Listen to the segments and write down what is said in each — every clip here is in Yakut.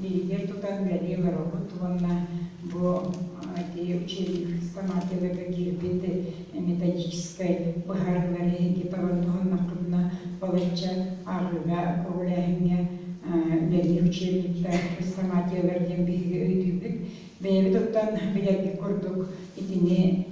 лииһигэр тутан бэлиэ олороһут уонна бу тиэй учебник сама тыыларга киирбит методическай быһаарыылар иһинки табаны туһаннахпытына балачча ааҕыыга көҕүлээһиҥҥэ бэлиэ учебниктар сама тыылар диэн биһиги өйдүүбүт бэйэбит оттон билэрбит курдук итини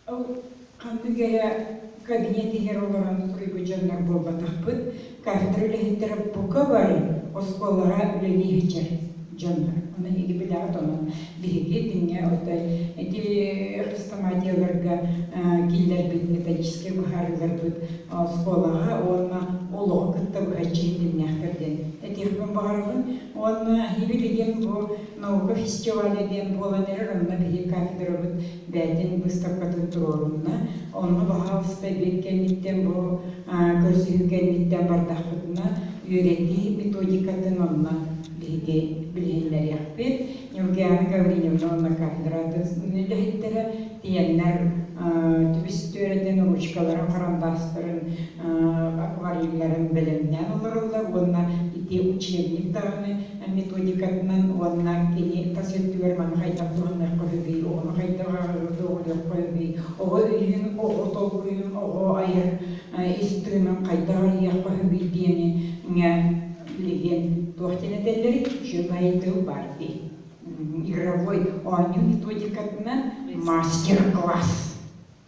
Ол хантык эрэ кабинет иһэр олорон суруйбут дьоннор буолбатахпыт. Кафедра үлэһиттэрэ бука бары оскуолаҕа үлэлии иһиччэр дьоннор. Ону эһиги билэҕит, онон биһиги диҥҥэ отой ити хрестоматияларга киллэрбит металлическай быһаарыыларбыт оскуолаҕа уонна олоҕу кытта быһа чиһиндиннээхтэр диэн этиэхпин баҕарабын. Уонна Хивели диэн бу наука фестиваля диэн буолан эрэр, онно биһи кафедрабыт бээтин быыстапкатын туруорунна. Онно баһаалыста биир кэнниттэн бу көрсүһүү кэнниттэн бардахпытына үөрэтии методикатын онно биһиги билиһиннэриэхпит. Нюргиана Гавриневна уонна кафедратус үлэһиттэрэ тиэннэр түбүс түөрэтин ручкаларын харандастарын аквариумнарын бэлэмнээн олороллор уонна ити учебник даҕаны методикатынан уонна кини тас өттүгэр маны хайдах туһаныахха сөбүй, оҕону хайдах доҕоруохха сөбүй, оҕо илиин оҕо толкуйун, оҕо айар ис тыынын хайдах арыйыахха сөбүй диэни билигин туох диэн этэллэрий желай тыл бар дии игровой оонньуу методикатынан мастер класс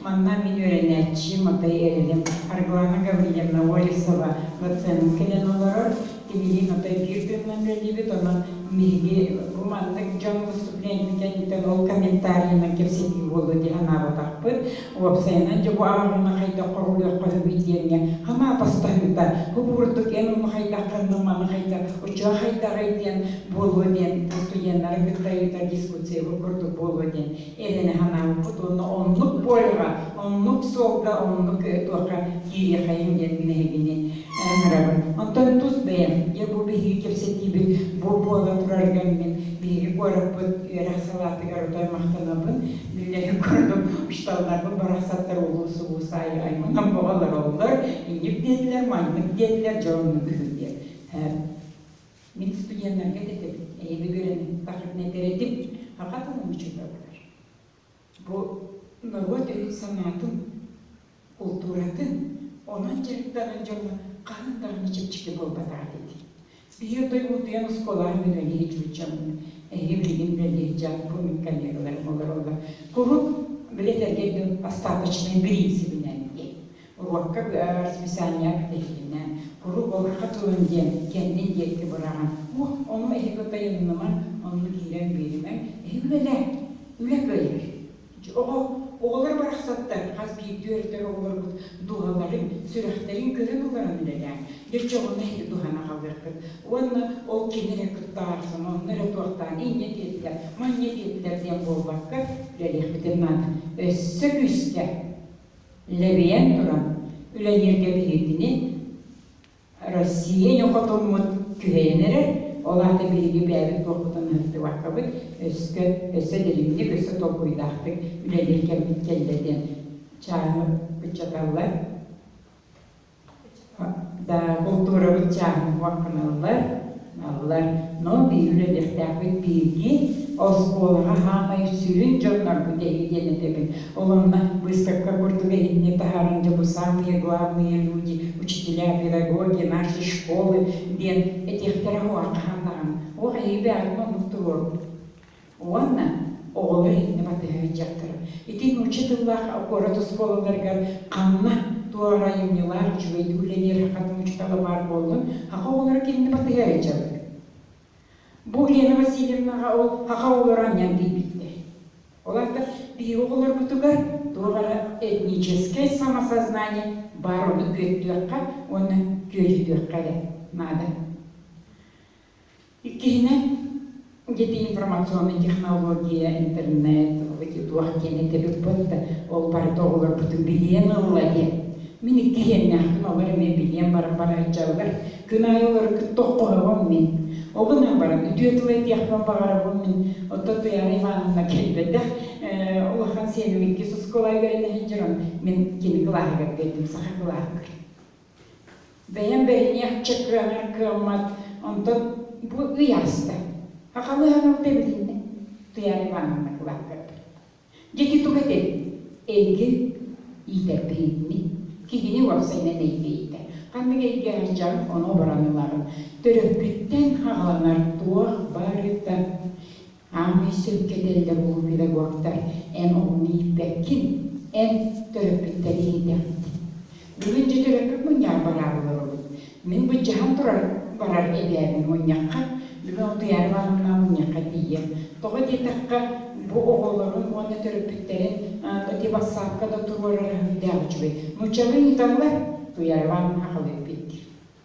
Манна мин үөрэнээччим Атай Эрилим, Арглана Гаврильевна Олесова доценын кэлэн олорор. Кинилиин Атай биир тылынан үлэлиибит, онон биһиги бу маннык дьон выступлениета кэнниттэн ол комментарийынан кэпсэтии буолуо дии санаабатахпыт. Уопсайынан дьэ бу ааҕыыны хайдах хоһулуоххаһыгый диэҥҥэ хамаапастаһыыта, бу бурдук эн ону хайдаххыннык, маны хайдах, учуо хайдаҕый диэн буолуо диэн, устудьуоннары кытта ыытар дискуссия бу курдук буолуо диэн иһин санаабыппыт уонна оннук полюһа, оннук суолга оннук туохха киириэххэйиҥ диэн нэһилини ыҥырабын. Онтон тус бэйэм бу биһиги кэпсэтиибит бу буола турар кэммин биһиги куораппыт үөрэх салаатыгар утары махтанабын. Биллэрин курдук, учууталларбын барахсаттар улуус улуус аайы айманан бөҕөлөр оллор, инньик диэтилэр, маннык диэтилэр, дьэ оннук үһү диэн. Мин студеннарга да этэбин, эйэги көрөммүппэх этэрэтим, пока тылым учитыватар. Бу норуот өйүн-санаатын, култууратын, онон дьарыктанар дьоно хаһан даҕаны чэпчэки буолбатаҕа дии. Спиһиэрдой утуйан оскуолаҕа мүнэлиир чуччаммын, эһиги билигин үлэлиир дьааппын коллегаларым олороллор. Куруук билетэргэ бастаапочнай бириинсибинэн диэн. Уруокка бөҕөҕөр списание кэтэһиинэ, куруук оһоххо тылын диэн, кэннин диэки быраҕан, уох, ону эһиги тайыннымаҥ, онно киирэн биэримэҥ, эһиги үлэлээҥ, үлэ кыайар. Оҕо, оҕолор барахсаттар, хас биирдии-төрүттэр оҕолоргут дууһаларын, сүрэхтэрин көрөн ылларан үлэлээҥ, дьочоҕуну эһиги туһана хаалыаххыт уонна ол кини эрэ куттаах, сомоһону эрэ туохтаан инньэ диэтилэр, манньа диэтилэр диэн буолбакка, үлэлиэхпитин наада. Өссө күүскэ! лэбийэн туран үлэлииргэ биһигини Россия ньукутуммут күһэйэн эрэр, ол аата биһиги бэйэбит буолбутун ыһыктыбаккабыт, өскө өссө дириҥник, өссө толкуйдаахтык үлэлиир кэммит кэллэ диэн чааһы ыччаталлар. Култуурабыт чааһын-куһун аналлар, аналлар, но биһи үлэлиэхтээхпит биһиги оскуолаҕа саамай сүрүн дьоннорбут эһиги диэн этэбин. Ол онно выставка курдук иһинни таһааран дьэ бу саамые главные люди, учителя педагоги, наши школы диэн этиэхтэрэ уһу арҕаһаан даҕаны. Уох эһиги бэҕэтин оннук туруорбут. Уонна оҕолор иннэ батыһа сылдьахтара. Ити нуучча тыллаах куорат оскуолаларыгар ханна туох айымньылаах үчүгэйдик үлэлиэриэххин учуутала баар буоллун, ХАХ оҕолоро кинини батыһа сылдьаллар. Бу Лена Васильевнаҕа ол ХАХ оҕолоро анньан тиийбиттэр. Олортон биһиги оҕолорбутугар туох эрэ этническэй самосознание баар, ону күөттүөххэ уонна күөдьүтүөххэ эрэ наада. Иккиһинэн, ити информационнай технология, интернет, эти туох диэн этибиппит да, ол барыта оҕолорбутун билиэн ылла иһэ. Мин иккиһиэннээхпин олор эмиэ билиэн баран барааччаллар. Күн аайы олору кытта оххоһобом мин. Ол гынан баран үтүө тыл этиэхпин баҕарабын мин. Оттон Туйаара Ивановна кэлбэтэх э, улахан сиэммиккис оскуолаҕа үөрэнэ сылдьарын мин кини кылааһыгар гэрдим саха кылааһыгар. Бэйэм бэһиниэхчэ кыанар кыаммат, онтон бу ый аста. Хахалыһаҕым тэбилиннэ, Туйаара Ивановна кылааккырбыт. Дьэ ити туга этэй? Эйиги иитэрбин инни, киһини уопсайынан эйгэ-иитэ. Ханнык эйгэҕэ дьаҥ ону оборон ылаҕын? Төрөппүттэн хаҕыланар туох барыта Аанньый сөпкө этэллэр буолуон педагогтар эн оҕону ииппэккин, эн төрөппүттэр иһийдэхпит. Бүгүн дьэ төрөппүт мунньаҕар бараары олоробут. Мин былдьаһан турар барар эбээбин мунньахха, бүгүн Утуйаары Ивановна мунньахха тиийэр. Тоҕо диэтэххэ, бу оҕолорун уонна төрөппүттэрин бити бассаапка да туруорара үһүрдээх үчүгэй. Нууччалыы ыйыталлар, Утуяр Ивановна аҕал эппит.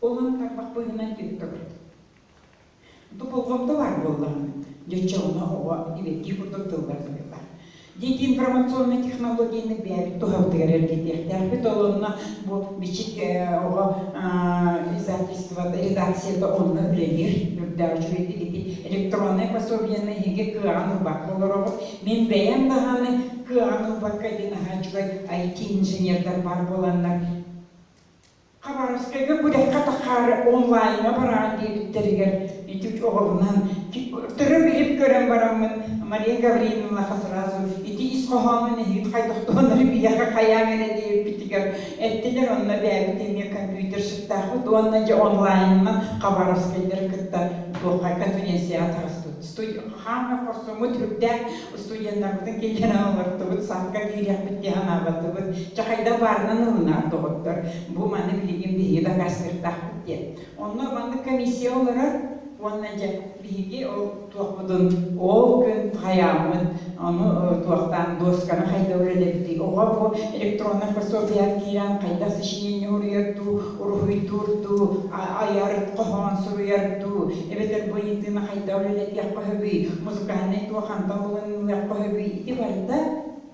Ол-он тарбах быыһынан түһэ көбүрт. Ту болҕомто баар буоллаҕына, дьоччоҥно оҕо итилэттии курдук тыллар-тылыылар. Диэтин информационнай технологияны бэйэбит туһабытыгар эргитиэхтээхпит. Олонно бу бичик оҕо издательствота, редакцията онно үлэлиир. Үрдээ үчүгэйдик ити электроннай пособиеннай иһиги кыаҕан ылбат болороҕут. Мин бэйэм даһаны кыаҕан ылбакка ити наһаа үчүгэй IT-инженердар баар буоланнар Хабаровскайга күрэххэ таһаары онлайҥҥа бараҕын диэбиттэригэр ити оҕолонон төрө-билим көрөн бараммын Мария Гаврильевнаҕа сразу ити ис хоһоонун эһиги хайдахтаҕынары биһиэхэ хайааҥ эрэ диэбиппитигэр эттилэр онно эбээбит эмиэ компьютерщиктаахпыт уонна дьэ онлайнынан хабаровскайдары кытта духайга конференцияҕа таҕыстыбыт студия хаамыа хорсуммут сүрдээх студеннарбытын киллэрэн олортубут сааска киириэхпит дии санаабатыбыт чэ хайдах баарынан ылынаар доҕоттор бу маны билигин биһиги дакаастыырдаахпыт диэн онно маннык комиссия олорор уонна дьэ биһиги ол туохпутун ол күн хайааммыт ону туохтаан досканы хайда үлэлэбитий оҕо бу электроннай пособиеҕа киирэн хайдах сочинение уруйар дуу уруһуйдуур дуу айар хоһоон суруйар дуу эбэтэр бу ыйытыыны хайдах үлэлэтиэх баһыгый, музыкальнай туох хантан булуннулуох баһыгый, ити барыта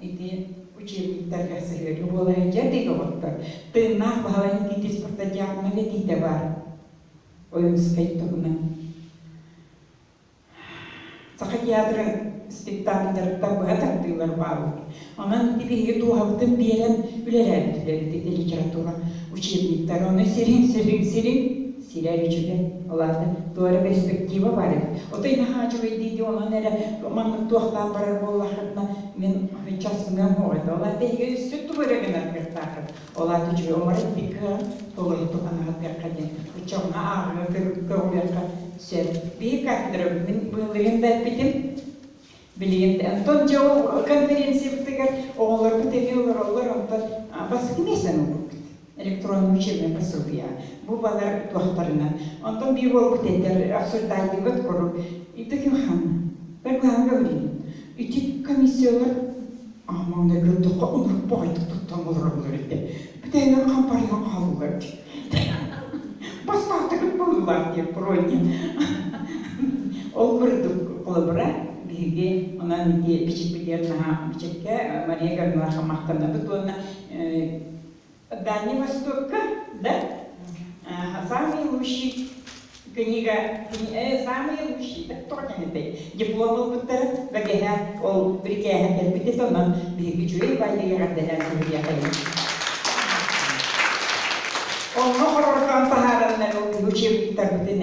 ити учебниктарга сыһыарыы буолар. Дьэ, доҕоттор, тыыннаах Баһылай Никитич спартакиаднай этиитэ баар. Ойуунускай тугунан. Саха театры спектакльдарыттан быһа тардыылар бааллар. Онон ити биһиги дууһабытын биэрэн үлэлээбитилэр ити литература учебниктары. Ону сирин, сирин, сирин сирэр үчүгэй. Ол аата туох эрэ перспектива баар эбит. Отой наһаа үчүгэй дии онон эрэ маннык туохтаах барар буоллаххытына мин часбыгар муоҕайда. Ол аата эһиги өссө тугу эрэ гынаргыттааххыт. Ол аата үчүгэй умарыт бикка толорутук анаһатгакка диэн ыччаҥҥа ааҕыа көҕүлүөххэ сөп. Биир кафедра мин быһылыгын да эппитим. Билигин Антон дьэ конференциябытыгар оҕолорбут эмиэ олороллор, онтон бастакы миэстэни ылбыппыт электроннай учебнай пособие. Бу балар туохтарынан. Онтон биир буолбут этэр обсуждайдыбыт куру. Ититин хан. Бэр быһаан көбүлүйүн. Ити комиссиялар Онно көрдөххө ынырпаҕайдык туттан олороллор этэ. Бүтэнэн хампарыйан хааллылар дии. Бастаахтыгыт буоллулаах диэн бронник. Ол курдук холобура биһиги онон ити бичикпитигэр наһаа бичиккэ Мария Ивановнаха махтанабыт уонна В Дальнем Востоке, да, самые лучшие книга, самые лучшие, да только не этой, диплом ылбыттара, бэгэһэ, ол брикээһэ кэлбит это онон биһиги үчүгэй байыгар дэнэн сиһилиэхэйин. Онно хорортон таһаараннар учебниктарбытын